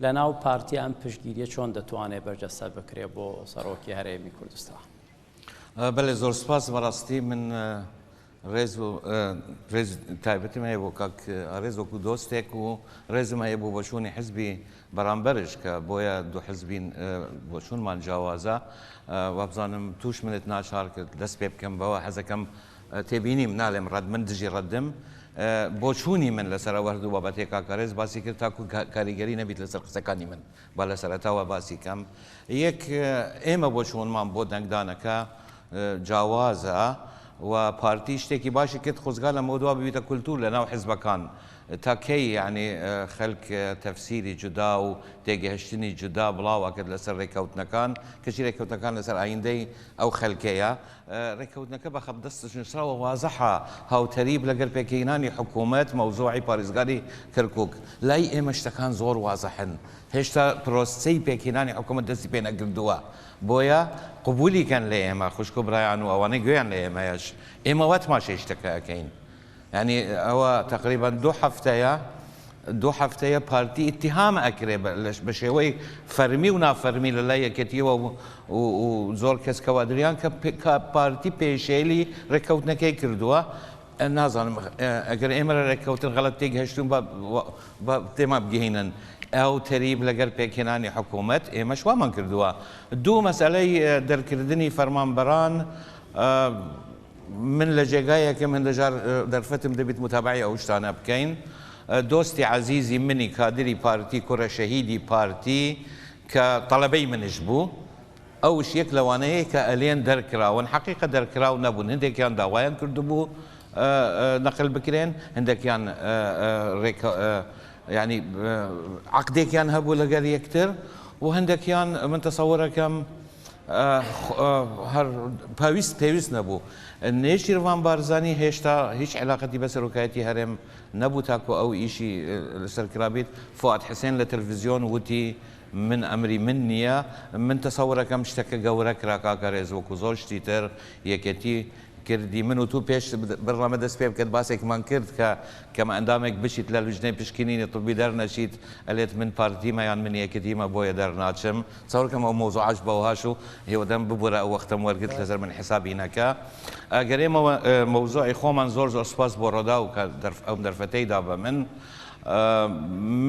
لەناو پارتی ئەم پشتگیریە چۆن دەتوانێت بەرجەستە بکرێت بۆ سەڕۆکی هەرێمی کوردستان؟ بەلێ زۆر سپاس بەڕاستی من ڕێز و ڕێز تایبەتم هەیە بۆ کاک ئارێز وەکو دۆستێک و ڕێزم هەیە بۆ بەشوونی حزبی بەرامبەرش کە بۆیە دوو حزبین بۆچونمان جیاوازە وابزانم توش منت ناچار کرد دەست پێ بکەم بەوە حەزەکەم تێبینیم، نالێم ڕەد، من دژی ڕەدم. بۆچوونی من لەسەر ئەو هەردوو بابەتەی کاک ئارێز باسی کرد تاکو کاریگەری نەبیت لەسەر قسەکانی من، با لە سەرەتاوە باسی کەم. یەک، ئێمە بۆچوونمان بۆ دەنگدانەکە جاوازە و پارتی شتێکی باشی کرد خۆزگا لەمەودوا ببیتە کولتوور لەناو حزبەکان، تا کەی یانی خەلک تەفسیری جودا و تێگەهشتنی جودا بڵاو ئەکرد لەسەر رێکەوتنەکان، کەچی رێکەوتنەکان لەسەر ئایندەی ئەو خەلکەیە، رێککەوتنەکە بە خەپ دەستش نووسراوە وازحە هاوتەریب لەگەل پێکهینانی حکوومەت مەوزوعی پاریزگاری کەرکووک. لای ئێمە شتەکان زۆر وازحن هێشتا پرۆسسەی پێکهینانی حکوومەت دەستی پێ نەکردووە بۆیە قبوولی کەن لە ئێمە خوشک و برایان و ئەوانەی گوێیان لە ئێمەیەش ئێمە وا تماشای شتەکە ئەکەین یانی ئەوە تەقریبەن دوو هەفتەیە دوو هەفتەیە پارتی ئیتیهام ئەکرێ بە شێوەی فەرمی و نافەرمی لە لای یەکێتیەوە و زۆر کەس کەوادریان کە پارتی پێشێلی ڕێککەوتنەکەی کردووە نازانم ئەگەر ئێمە لە ڕێککەوتن غەڵەت تێک هەشتون بە تێما بگەینن ئەو تەریب لەگەر پێکهێنانی حکوومەت ئێمە شوامان کردووە دوو مەسلەی دەرکردنی فەرمانبەران من لە جێگایەکم هەندەجار دەرفەتم دەبیت متابەعەی ئەو شتانە بکەین دۆستی عەزیزی منی کادری پارتی کورە شەهیدی پارتی کە تەڵەبەی منش بوو ئەوش یەک لەوانەیە کە ئەلێن دەرکراون حەقیقە دەرکراو نەبوون هەندێکیان داوایان کردبوو نەقل بکرێن هەندێکیان رێکە یعنی عەقدێکیان هەبوو لەگەر یەکتر و هەندێکیان من تەسەورەکەم هەر پاویست پێویست نەبوو. نێچیرڤان بارزانی هێشتا هیچ عیلاقەتی بە سەرۆکایەتی هەرێم نەبوو تاکو ئەو ئیشی لەسەر کرابیت. فوئاد حسێن لە تەلفزیۆن وتی من ئەمری من نیە. من تەسەورەکەم شتەکە گەورە کرا کاکە رێز وەکو زۆر شتی تر یەکێتی کردی. من و تو پێش بەرنامە دەست پێ بکەت باسێکمان کرد کە کەم ئەندامێک بچیت لە لجنەی پشکنینی طبی دەرنەچیت ئەلێت من پارتیمە یان من یەکێتیمە بۆیە دەرناچم. چاوەرکەم ئەو مەوزوعاش بەوهاش و هیوادارم ببورە ئەو وەختەم وەرگرت لەسەر من حیسابی نەکە ئەگەر ئێمە مەوزوعی خۆمان زۆر زۆر سوپاس بۆ ڕۆداو کە ئەم دەرفەتەی دا بە من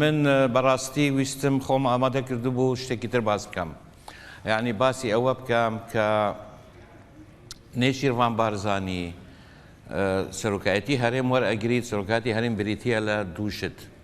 من بەڕاستی ویستم خۆم ئامادە کردبوو شتێکی تر باس بکەم یعنی باسی ئەوە بکەم کە نێچیرڤان بارزانی سەرۆکایەتی هەرێم وەرئەگریت سەرۆکایەتی هەرێم بریتییە لە دوو شت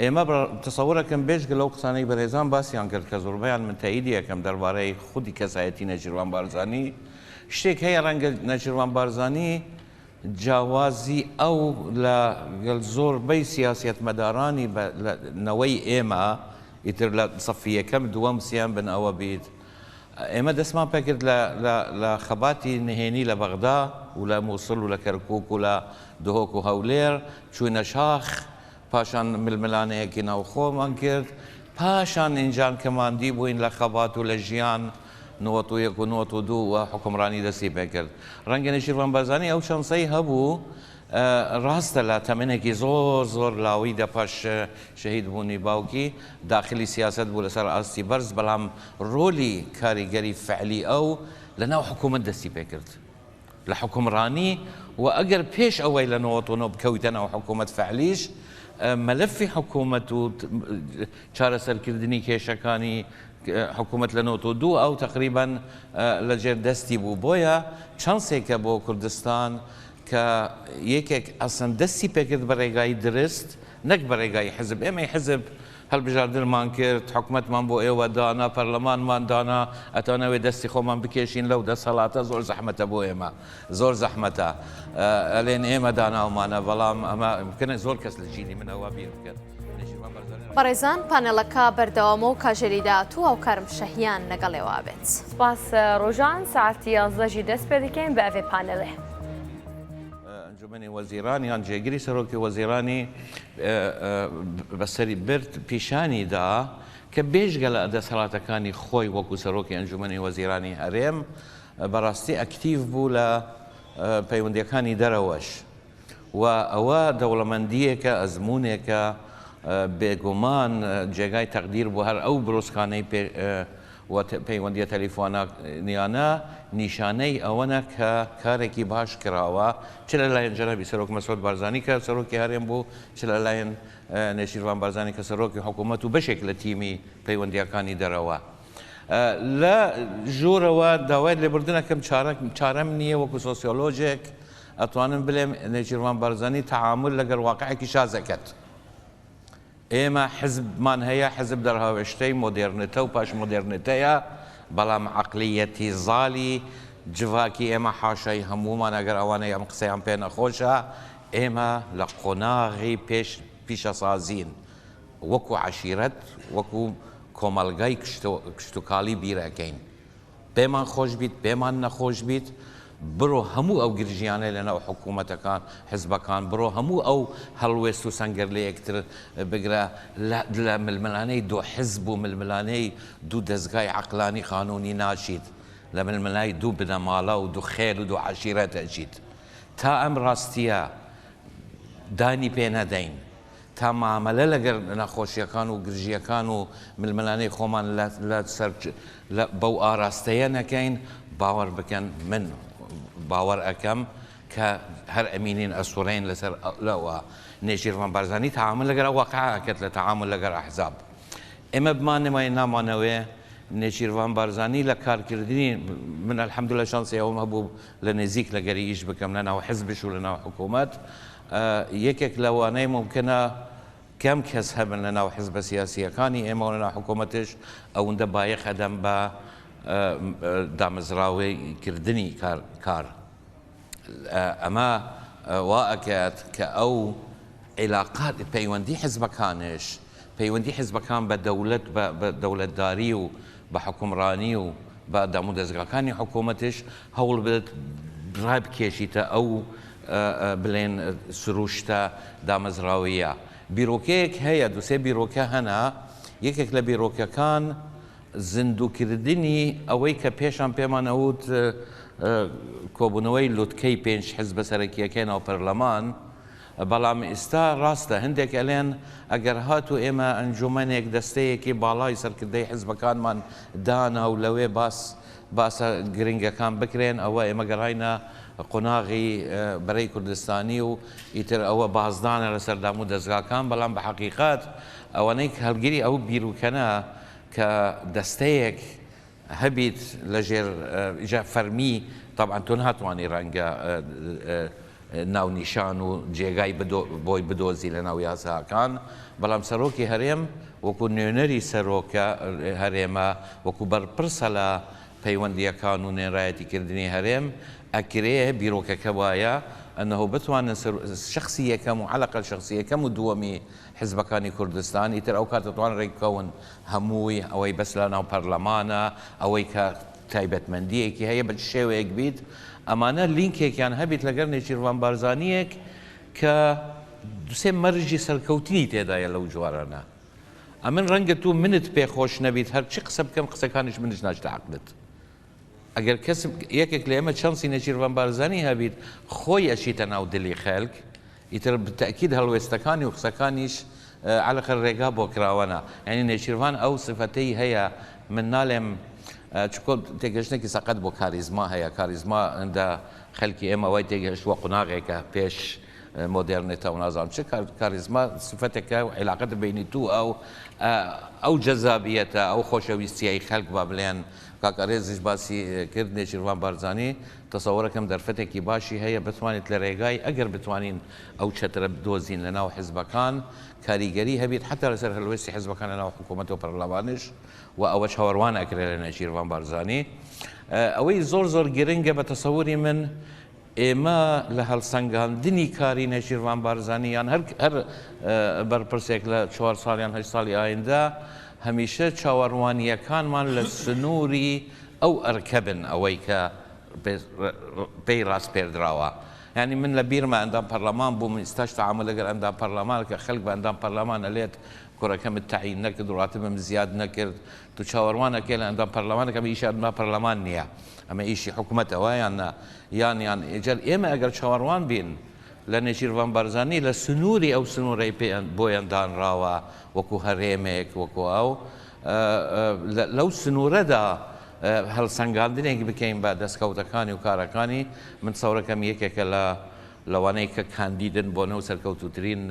ئێمە بە تصور ئەکەم بێجگە لەو قسانەی بەرێزان باسیان کرد کە زوربەیان من تەئیدی ئەکەم دەربارەی خودی کەسایەتی نەچیروان بارزانی شتێک هەیە رەنگە نەچیروان بارزانی جاوازی ئەو لە گەل زور بەی سیاسیەت مەدارانی بە لە نەوەی ئێمە ئیتر لە سەفی یەکەم دوەم سێم بن ئەوە بیت ئێمە دەسمان پەکرد لە لە لە خەباتی نهێنی لە بەغدا و لە موسل و لە کەرکوک و لە دهۆک و هەولێر چوینە شاخ پاشان ململانێیەکی ناوخۆمان کرد، پاشان ئینجان کە ماندی بووین لە خەبات و لە ژیان، نۆت و یەک و نۆت و دوو و حوکمڕانی دەستی پێ کرد. ڕەنگە نێچیرڤان بارزانی ئەو چەند سەی هەبوو، ڕاستە لە تەمەنێکی زۆر زۆر لاوی دە پاش شەهید بوونی باوکی، داخلی سیاسەت بوو لە سەر ئاستی بەرز، بەڵام ڕۆلی کاریگەری فەعلی ئەو لە ناو حکوومەت دەستی پێ کرد. لە حوکمڕانی و ئەگەر پێش ئەوەی لە نۆوەت و نۆ بکەویتە ناو حکومەت فەعلیش مەلەفی حکومەت و چارەسەرکردنی کێشەکانی حکومەت لە نۆوەت و دوو ئەو تەقریبەن لە ژێر دەستی بوو بۆیە چانسێکە بۆ کوردستان کە یەکێک ئەسڵەن دەستی پێکرد بە رێگای درست نەک بە رێگای حزب، ئێمەی حزب هەڵبژاردنمان کرد، حکومەتمان بۆ ئێوە دانا، پەرلەمانمان دانا، ئەتانەوێ دەستی خۆمان بکێشین لەو دەسەڵاتە، زۆر زەحمەتە بۆ ئێمە، زۆر زەحمەتە ئەلێن ئێمە داناومانە، بەڵام ئەمە امکنە زۆر کەس لە جیلی من ئەوە بیر بکەن. بەڕێزان پانێڵەکە بەردەوامە و کاژێری داهاتوو هاوکارم شەهیان لەگەڵێوا بێت. سپاس ڕۆژان سەعاتی یازدە ژی دەست پێ دەکەین بە ئەڤێ پانێڵێ. ئەنجومەنی وەزیران یان جێگری سەرۆکی وەزیرانی بەسەری برد، پیشانی دا کە بێجگە لە دەسەڵاتەکانی خۆی وەکو سەرۆکی ئەنجومەنی وەزیرانی هەرێم، بەڕاستی ئەکتیڤ بوو لە پەیوەندییەکانی دەرەوەش و ئەوە دەوڵەمەندییەکە، ئەزموونێکە بێگومان جێگای تەقدیر بۆ هەر ئەو برۆسکانەی و پەیوەندییە تەلیفۆنییانە نیشانەی ئەوەنە کە کارێکی باش کراوە چ لەلایەن جەنابی سەرۆک مەسعود بارزانی کە سەرۆکی هەرێم بوو، چ لەلایەن نێچیرڤان بارزانی کە سەرۆکی حکوومەت و بەشێک لە تیمی پەیوەندییەکانی دەرەوە. لە ژوورەوە داوای لێبوردن ئەکەم، چارەم نییە، وەکوو سۆسیۆلۆژێک ئەتوانم بڵێم نێچیرڤان بارزانی تەعامول لەگەڵ واقعێکی شاز ئەکات. ئێمە حزبمان هەیە، حزب دەرهاوێشتەی مۆدێرنتە و پاش مۆدێرنتەیە، بەڵام عەقلیەتی زاڵی جڤاکی ئێمە حاشای هەموومانە، گەر ئەوانەی ئەم قسەیان پێ نەخۆشە، ئێمە لە قۆناغی پێش پیشەسازین، وەکو عەشیرەت، وەکو کۆمەڵگای کشتوکاڵی بیر ئەکەین، پێمان خۆش بیت پێمان نەخۆش بیت بڕۆ هەموو ئەو گرژیانەی لەناو حکوومەتەکان، حزبەکان، بڕۆ هەموو ئەو هەڵوێست و سەنگەرلەیەکتر بگرە لە ململانێی دوو حزب و ململانێی دوو دەزگای عەقلانی قانوونی ناچیت، لە ململانێی دوو بنەماڵە و دوو خێل و دوو عەشیرەت ئەچیت. تا ئەم ڕاستییە دانی پێ نەدەین، تا مامەلە لەگەل نەخۆشیەکان و گرژیەکان و ململانێی خۆمان لە سەر بەو ئاراستەیە نەکەین، باوەر بکەن من باوەر ئەکەم کە هەر ئەمینین ئەسوڕێین لەسەر لەوە. نێچیرڤان بارزانی تەعامول لەگەر واقع ئەکەت لە تەعامول لەگەر ئەحزاب. ئێمە بمانەوێ نامانەوێ نێچیرڤان بارزانی لە کارکردنی من الحمدللە شانسی ئەوەم هەبوو لە نێزیک لەگەری ئیش بکەم لە ناو حزبش و لە ناو حکومەت یەکێک لەوانەی مومکینە کەم کەس هەبن لە ناو حزبە سیاسییەکانی ئێمە و لە ناو حکوومەتش ئەوندە بایەخ ئەدەن بە دامەزراوەی کردنی کار. ئەمە وا ئەکات کە ئەو عیلاقات، پەیوەندی حزبەکانش، پەیوەندی حزبەکان بە دەولەت بە دەولەتداری و بە حوکمڕانی و بە دامودەزگاکانی حکومەتش هەوڵبدەت ڕابکێشیتە ئەو بلێن سروشتە دامەزراوەییە. بیرۆکەیەک هەیە دوو سێ بیرۆکە هەنە یەکێک لە بیرۆکەکان زیندووکردنی ئەوەی کە پێشان پێمان ئەوت کۆبوونەوەی لوتکەی پێنج حزبە سەرەکیەکەی ناو پەرلەمان، بەڵام ئیستا ڕاستە هەندێک ئەلێن ئەگەر هاتو ئێمە ئەنجومەنێک دەستەیەکی باڵای سەرکردەی حزبەکانمان دانا و لەوێ باس باسە گرنگەکان بکرێن ئەوە ئێمە گەڕاینە قوناغی بەرەی کوردستانی و ئیتر ئەوە بازدانە لەسەر دامو دەزگاکان بەڵام بە حەقیقەت ئەوەنەی هەڵگری ئەو بیروکەنە کە دەستەیەک هەبیت لەژێر جا فەرمی تەبعەن تۆ ناتوانی ڕەنگە ناونیشان و جێگای بۆی بدۆزی لەناو یاساکان بەڵام سەرۆکی هەرێم وەکو نوێنەری سەرۆکە هەرێمە وەکو بەرپرسە لە پەیوەندیەکان و نوێنرایەتی کردنی هەرێم ئەکرێ بیرۆکەکە وایە ئەنەهۆ بتوانن شەخسی یەکەم و عەلەقەل شەخسی یەکەم و دووەمی حزبەکانی کوردستان ئیتر ئەو کاتە توان ڕێکبکەون هەمووی ئەوەی بەس لە ناو پەرلەمانە ئەوەی کە تایبەتمەندیەکی هەیە بە چ شێوەیەک بیت ئەمانە لینکێکیان هەبیت لەگەر نێچیرڤان بارزانیەک کە دوو سێ مەرجی سەرکەوتنی تێدایە لەو جۆرانە ئەمن ڕەنگە تۆ منت پێ خۆش نەبیت هەر چی قسە بکەم قسەکانیش منش ناچتە عەقلت ئەگەر کەس یەکێک لە ئێمە چانسی نێچیرڤان بارزانی هەبیت خۆی ئەچیتە ناو دلی خەلک ئیتر تەئکید هەڵوێستەکانی و قسەکانیش عەلەقەل رێگا بۆ کراوەنە یانی نێچیرڤان ئەو سفەتەی هەیە من نالێم چونکۆ تێگەشتنێکی سەقەت بۆ کاریزما هەیە کاریزما هندە خەلکی ئێمە وای تێگەشتوە قوناغێکە پێش مۆدێرنێتە و نازانم چ کاریزما سفەتێکە و عیلاقەتە بینی تو ئەو ئەو جەزابیەتە ئەو خۆشەویستیەی خەلک با بلێن کاک ئەرێزیش باسی کرد نێچیرڤان بارزانی تەسەوەرەکەم دەرفەتێکی باشی هەیە بتوانیت لە رێگای ئەگەر بتوانین ئەو چەترە بدۆزین لە ناو حزبەکان کاریگەری هەبیت حەتا لەسەر هەلوێستی حزبەکان لە ناو حکومەت و پەرلەمانیش و ئەوە چاوەروان ئەکرێ لە نێچیرڤان بارزانی ئەوەی زۆر زۆر گرنگە بە تەسەوری من ئێمە لە هەلسەنگاندنی کاری نێچیرڤان بارزانی یان هەر هەر بەرپرسێک لە چوار ساڵ یان هەشت ساڵی ئایندە هەمیشە چاوەروانییەکانمان لە سنووری ئەو ئەرکە بن ئەوەی کە پێی راسپێردراوە یانی من لە بیرمە ئەندام پەرلەمان بووم ئیستاش تەعامول لەگەر ئەندام پەرلەمانە کە خەلک بە ئەندام پەرلەمان ئەلێت کورەکەمت تەعین نەکرد راتبم زیاد نەکرد تو چاوەروان ئەکەی لە ئەندام پەرلەمانێک ئەمە ئیشی ئەندام پەرلەمان نیە ئەمە ئیشی حکومەتە وا یان نا یان یان ئیجا ئێمە ئەگەر چاوەروان بین لە نێچیرڤان بارزانی لە سنوری ئەو سنورەی پێ بۆیان دانراوە وەکو هەرێمێک وەکو ئەو لەو سنورەدا هەلسەنگاندنێک بکەین بە دەسکەوتەکانی و کارەکانی من چاورەکەم یەکێکە لە لەوانەیە کە کاندیدن بۆ نەو سەرکەوتووترین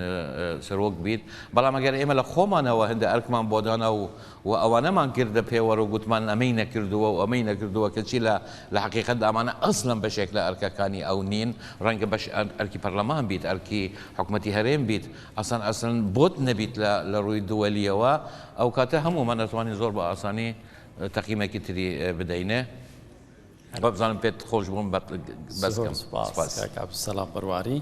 سەرۆک بیت، بەڵام ئەگەر ئێمە لە خۆمانەوە هەندە ئەرکمان بۆ دانا و و ئەوانەمان کردە پێوەر و گوتمان ئەمەی نەکردووە و ئەمەی نەکردووە کەچی لە لە حەقیقەتدا ئەمانە ئەسڵەن بەشێک لە ئەرکەکانی ئەو نین، ڕەنگە بەش ئەرکی پەرلەمان بیت، ئەرکی حکومەتی هەرێم بیت، ئەسڵەن ئەسڵەن بۆت نەبیت لە لە ڕووی دووەلیەوە، ئەوکاتە هەموومان ئەتوانین زۆر بە ئاسانی تەقیمەکی تری بدەینێ. بەبزانم پێت خۆش بووم بەس کەم سوپاس. سوپاس کاک عەبدولسەلام بەرواری.